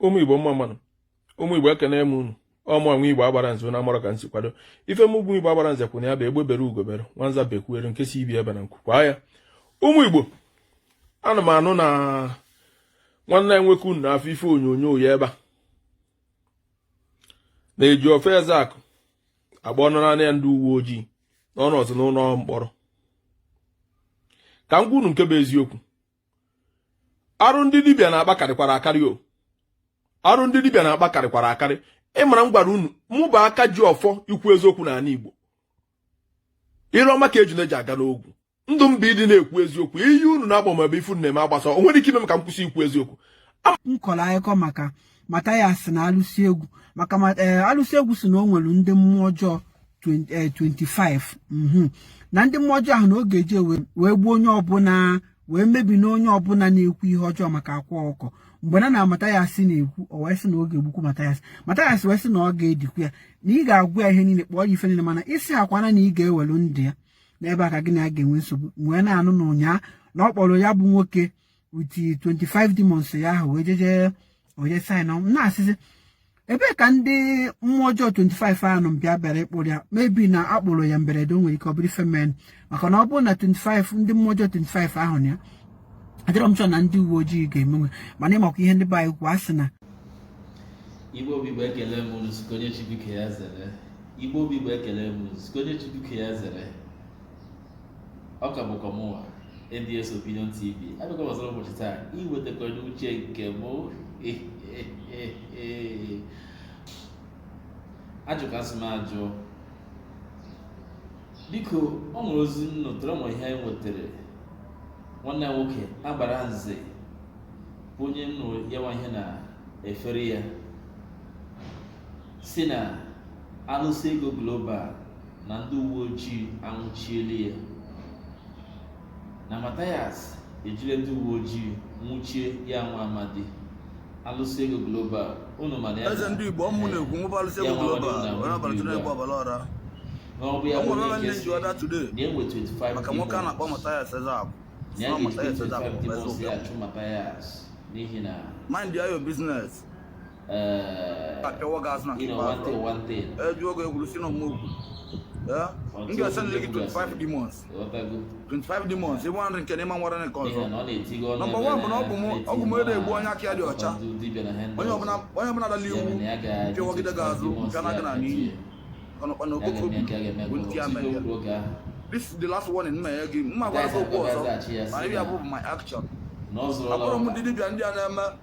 ụmụ igbo mma mma nụ ụmụ igbo ekene m unu ọ mụ nwa igbo agbara nze na amara ka nsi kwado ife m ugwu igbo agbara nze kwụ na ya bụ egbe bere ugo bere nwanza bekwuere nke sị ibe ya ebena nku kwaa ya ụmụ igbo ana m anụ na nwanne anyị nwoke unu na-afụ ife onyonyo ya ebe a na Ejiofor Ezeaku agba ọnụ naanị ya ndị uwe ojii na ọ nọzi n'ụlọ mkpọrọ ka m gwa unu nke bụ eziokwu arụ ndị dibịa na-akpa karịkwara akarị o arụ ndị dibịa na-akpa karịkwara akarị ị mara m gwara unu mụ bụ aka ji ọfọ ikwu eziokwu n'anị Igbo ire ọma ka ejuna ji aga n'ogwu ndụ m bụ ịdị na-ekwu eziokwu iyi unu na-agba m ebe ife unu na-eme agbasa o nwere ike ime m ka m kwụsị ikwu eziokwu m kọrọ akụkọ maka Mathias na alụsị ego maka eh, alụsị ego sị na o nwere ndị mmụọ ọjọọ 25 eh, mhm. na ndị mmụọ ọjọọ ahụ na oge e ji wee gbuo onye ọbụla wee mebi na onye ọbụla na-ekwu ihe ọjọọ maka akwa ọkụkọ mgbe na na Mathias na-ekwu o wee sị na ọ ga-egbukwu Mathias Mathias wee sị na ọ ga-edikwu ya na ị ga-agwa ya ihe niile kpọọ ya ife niile mana ị sịkwa na na ị ga-ewelu ndụ ya n'ebe a ka gị na ya ga-enwe nsogbu wee na-anụ na ụnyaa na ọ kpọrọ ya bụ nwoke with 25 demons ya ahụ wee jeje onye saịn ọnwụ na-asịzi ebee ka ndị mmụọ ọjọọ 25 ahụ nọ mgbe a bịara ịkpụrụ ya maybe na a kpụrụ ya mberede o nwere ike ọ bụrụ ife mere maka na ọ bụrụ na 25 ndị mmụọ ọjọọ 25 ahụ nọ ya adịrọ m sure na ndị uwe ojii ga-emenwu mana ị makwa ihe ndị be anyị kwuo a sị na igbo bụ igbo ekele m unu site onye chibike ya zere igbo bụ igbo ekele m unu site onye chibike ya zere ọ ka bụkwa mụnwa nds opinion tv abịakwa m ọzọ n'ụbọchị taa iwetakwara unu uche nke m ajụkasị m ajụ dịka o nwere ozi m nụtara nwere ihe anyị nwetara nwanne anyị nwoke agbara nze bụ onye m nụrụ ya nwa ihe na efere ya si na alụsị ego global na ndị uwe ojii anwụchiela ya na Mathias jiri ndị uwe ojii nwụchie ya nwa amadi alụsị ego global unu ma na ya eze ndị igbo ọ mụ na-ekwu nwụba alụsị ego global onye abalị tụrụ egwu ọbara ọra n'ọbụ ya bụ ndị ji ọda today maka nwoke a na-akpọ Mathias Ezeaku Mathias Ezeaku bụ eze ụbịa mind your business Eh, apịawa gị azụ na nke ikpeazụ ejuo gị egwuru si na ọmụ okwu m ga-esendịrị gị 25 demons 25 demons ịbụ nrị nke na ịma nwara nke ọzọ nọmba wan bụ na ọgwụ m adị egbu onye aka ya dị ọcha onye ọbụla dala iwu pịawagide gị azụ pịa na gị na n'iyi ọnụkpa na okoko bụ ntị ya mere ya this is the last warning m na-enye gị m ma gwa gị okwu ọzọ ma ị bịa fụ my action abụrọ m ndị dibịa ndị a na-eme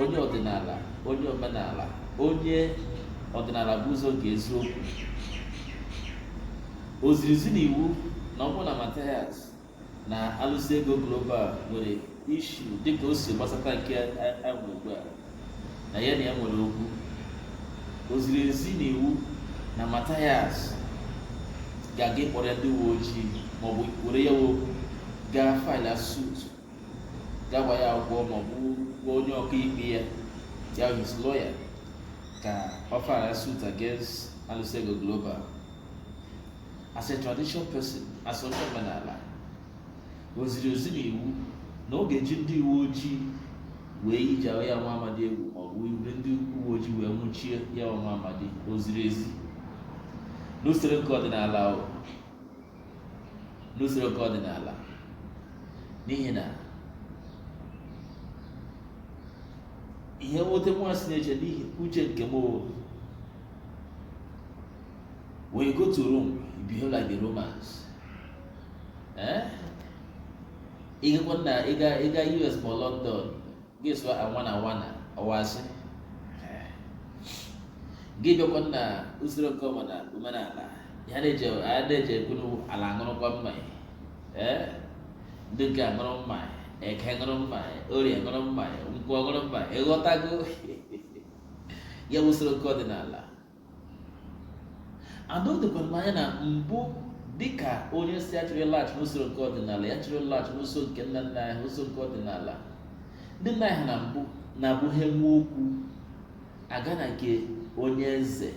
onye ọdịnala onye omenala onye ọdịnala bụ ụzọ nke eziokwu o ziri ezi na iwu na ọ bụ na Mathias na Alụsị Ego Global nwere issue dịka o si gbasata nke ahụ ugbu a na ya na ya nwere okwu o ziri ezi na iwu na Mathias ga-aga ịkpọrọ ya ndị uwe ojii maọbụ were ya okwu gaa file a suit gaa gbaa ya akwụkwọ ma ọ bụ gwa onye ọkaikpe ya ya his lawyer ka ọ file a suit against Alụsị Ego Global as a traditional person as onye omenala o ziri ezi na iwu na ọ ga-eji ndị uwe ojii wee yie ya nwa amadi egwu ma ọ bụ iwere ndị uwe ojii wee nwụchie ya nwa amadi o ziri ezi n'usoro nke ọdịnala o n'usoro nke ọdịnala n'ihi na ihe nweta nwa si na-eche n'ihi uche nke m when you go to Rome you behave like the Romans eh? ị gakwa na ịga ị gaa US maọbụ London gị sụọ I wanna I wanna ọwasị gị bịakwa na usoro nke ọma na omenala ya na-eji ekwuru ala aṅụrụkwa mmanya ee ndị nke aṅụrụ mmanya eke ṅụrụ mmanya orie ṅụrụ mmanya nkwọ ṅụrụ mmanya ị ghọtago ya bụ usoro nke ọdịnala ana o dokwara m anya na mbụ dịka onye sị ya chọrọ ịlaghachi n'usoro nke ọdịnala ya chọrọ ịlaghachi n'usoro nke nna nna anyị ha usoro nke ọdịnala ndị nna anyị ha na mbụ na-abụ ha nwee okwu a gaa na nke onye eze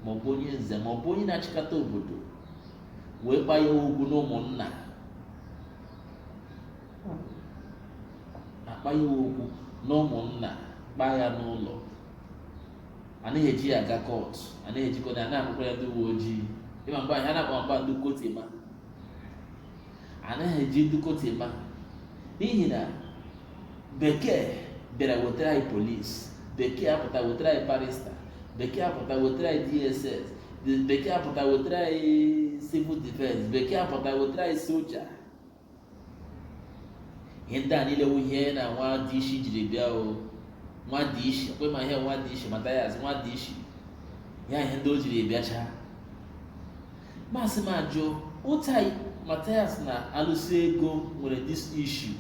maọbụ onye nze maọbụ onye na-achịkọta obodo wee kpaa ya okwu n'ụmụnna a kpaa ya okwu n'ụmụnna kpaa ya n'ụlọ anaghị eji ya aga court anaghị ejikwa ya na-akpọkwa ya ndị uwe ojii ị ma mgbe ahụ a na-akpọ mgba ndị kotima anaghị eji ndị kotima n'ihi na bekee bịara wetara anyị police bekee apụta wetara anyị barrister bekee apụta wetara anyị DSS bekee apụta wetara anyị civil defense bekee apụta wetara anyị soja ihe ndị a niile wụ ihe na nwa DC jiri bịa o nwa DC kwa ma ihe nwa DC Matthias nwa DC ha ihe ndị o jiri bịacha masị m ajụ ụta Matthias na Alụsị Ego nwere this issue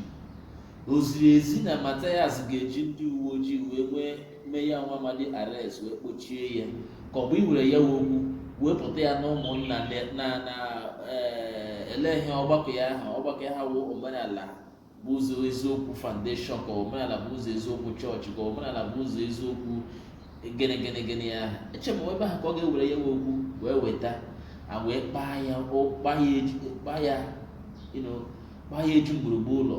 o ziri ezi na Matthias ga-eji ndị uwe ojii wee nwee mee ya nwa amadi arrest wee kpochie ya ka ọ bụ iwere ya wụ okwu wepụta ya na ụmụnna na- na na eh, ele ihe ọgbakọ ya aha ọgbakọ ya ha wụ omenala bụ ụzọ eziokwu foundation ka omenala bụ ụzọ eziokwu chọọchị ka omenala bụ ụzọ eziokwu gịnị gịnị gịnị ya aha eche m ebe ahụ ka ọ ga-ewere ya wụ okwu wee weta a wee kpaa ya o- kpaa ya eji- kpaa ya you know, kpaa ya eju gburugburu ụlọ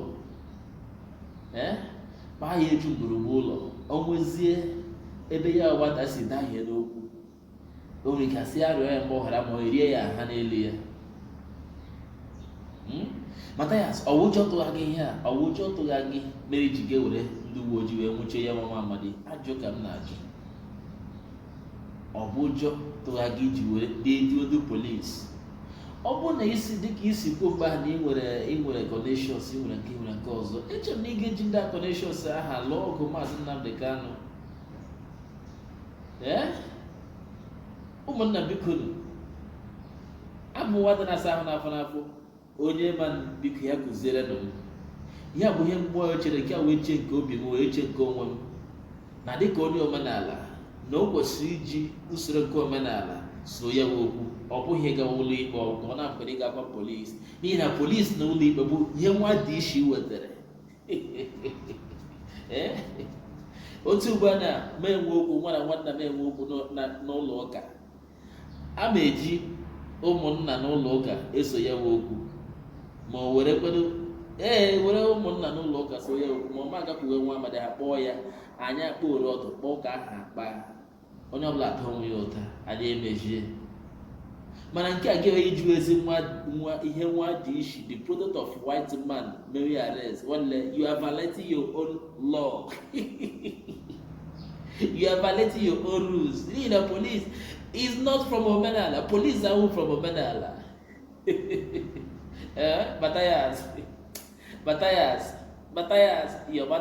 ee kpaa ya eju gburugburu ụlọ o nwezie ebe ya wụ nwata si dahie n'okwu o nwere ike a sị ya rịọ ya mgbaghara ma e rie ya nha n'elu ya Hmm? Mathias ọ wụ ụjọ tụgha gị ihe a ọ wụ ụjọ tụgha gị mere i ji ga were ndị uwe ojii wee nwụchie ya wụ nwa amadi ajụ ka m na-ajụ ọ bụ ụjọ tụgha gị i ji were dee jụọ ndị polisi ọ bụrụ na i si dịka i si kwuo mgbe ahụ na i nwere i nwere connections i nwere nke i nwere nke ọzọ eche m na ị ga-eji ndị a connections aha lụọ ọgụ maazị Nnamdi Kanu ee ụmụnna biko nụ abụ m nwata na-asa ahụ n'afọ n'afọ onye ma biko ya kụziere nụ m ya bụ ihe mgbe onye chere nke a wee chee nke obi m wee chee nke onwe m na dịka onye omenala na o kwesịrị iji usoro nke omenala soo ya wụ okwu ọ bụghị ịga ụlọ ikpe ọgụ ọ na-akwere ịga gwa polisi n'ihi na polisi na ụlọ ikpe bụ ihe nwa dishi wetara Ee? otu ugbu a na m enwee okwu mụwa na nwanna m enwee okwu n'ụ- na- n'ụlọ ụka A na-eji ụmụnna n'ụlọ ụka eso ya wụ okwu ma o were kwedo ee were ụmụnna n'ụlọ ụka soo ya okwu ma ọ ma agakwuwe nwa amadi aha kpọọ ya anyị akpọoro ọtụ kpaa ụka ahụ akpa onye ọbụla ata onwe ya ụta anyị emezie mana nke a ga-enwe iji ezi nwa nwa ihe nwa dishi the product of white man mere arrest nwanne you are violating your own law you are violating your own rules n'ihi na police is not from omenala police ahụ from omenala eh, batayas batayas batayas your